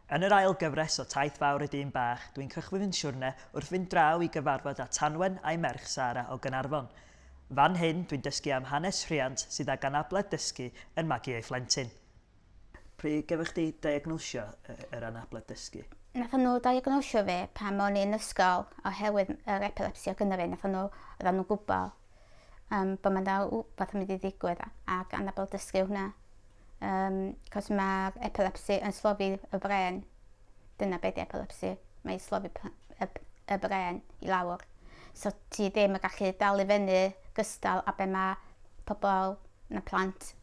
Yn yr ail gyfres o Taith Fawr y Dyn Bach, dwi'n cychwyn fy siwrne wrth fynd draw i gyfarfod â Tanwen a'i merch Sara o Gaernarfon. Fan hyn, dwi'n dysgu am hanes rhiant sydd ag anabledd dysgu yn magu ei phlentyn. Pryd gefo chdi diagnosio yr anabledd dysgu? Nathon nhw diagnosio fi pan o'n i yn ysgol oherwydd yr epilepsi o' gynno fi, nathon nhw, oeddan nhw'n gwbo yym bo' 'na rwbath yn mynd i ddigwydd ag anabledd dysgu o hwnna. Um, cos mae'r epilepsi yn slofi y bren. Dyna beth epilepsi. Mae'n slofi y, y bren i lawr. So ti ddim yn gallu dal i fyny gystal a be mae pobl na plant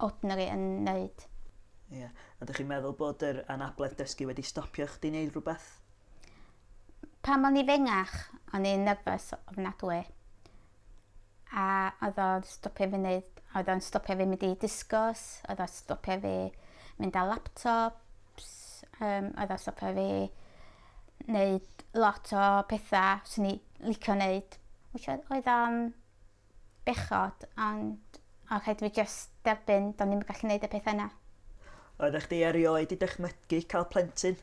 ordinary yn wneud. Ie. Yeah. A ydych chi'n meddwl bod yr anabledd dysgu wedi stopio chdi wneud rhywbeth? Pan o'n i fengach, o'n i'n nerfus ofnadwy. a oedd o'n stopio fi neud oedd o'n stopio fi mynd i disgos oedd o'n stopio fi mynd â laptops yym oedd o'n stopio fi neud lot o petha swn i licio neud wish I oedd o'n bechod ond o' rhaid fi jyst derbyn do'n i'm yn gallu neud y petha 'na. Oeddach chdi erioed 'di dychmygu ca'l plentyn?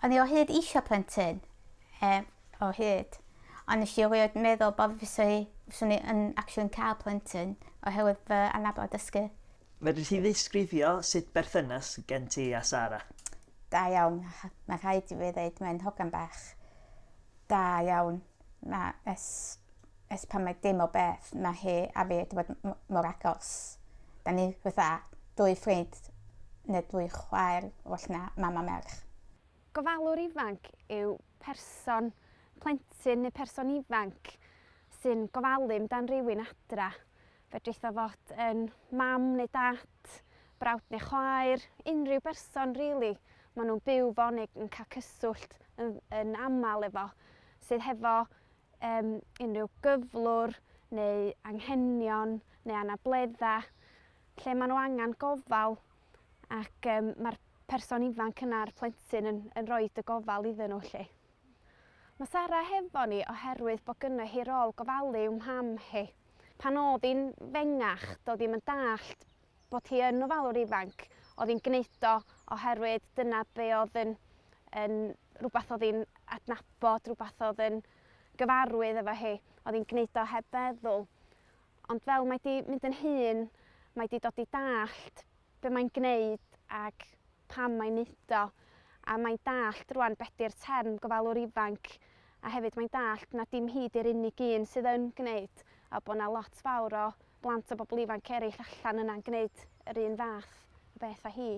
O'n i o hyd isio plentyn yym o hyd. Ond nes i erioed meddwl bod fyswn i, fyswn i yn actually yn cael plentyn oherwydd fy anabl a dysgu. Fedri di ddisgrifio sut berthynas gen ti a Sara? Da iawn. Mae rhaid i fi ddeud mae'n hogan bach da iawn. Mae ers, ers pan mae dim o beth mae hi a fi wedi bod m- mor agos. Da ni fatha dwy ffrind neu dwy chwaer well na mam a merch. Gofalwr ifanc yw person, plentyn neu person ifanc sy'n gofalu amdan rhywun adra. Fedrith o fod yn mam neu dad, brawd neu chwaer, unrhyw berson rili really, maen nhw'n byw fo neu yn cael cyswllt yn, yn aml efo sydd hefo um, unrhyw gyflwr neu anghenion neu anabledda lle maen nhw angen gofal ac um, mae'r person ifanc yna'r plentyn yn, yn rhoi dy gofal iddyn nhw lle. Mae Sara hefo ni oherwydd bod gynnu hi rôl gofalu yw mham hi. Pan oedd hi'n fengach, doedd hi'n yn dallt bod hi yn ofalwr ifanc, oedd hi'n gwneud o oherwydd dyna be oedd yn, yn rhywbeth oedd hi'n adnabod, rhywbeth oedd yn gyfarwydd efo hi, oedd hi'n gwneud o heb feddwl. Ond fel mae 'di mynd yn hŷn, mae 'di dod i dallt be mae'n gwneud ac pam mae'n neud o, a mae'n dallt rwan be 'di'r term gofalwr ifanc, a hefyd mae'n dallt na dim hi 'di'r unig un sydd yn gwneud, a bod 'na lot fawr o blant a bobl ifanc eraill allan yna'n gwneud yr un fath o beth â hi.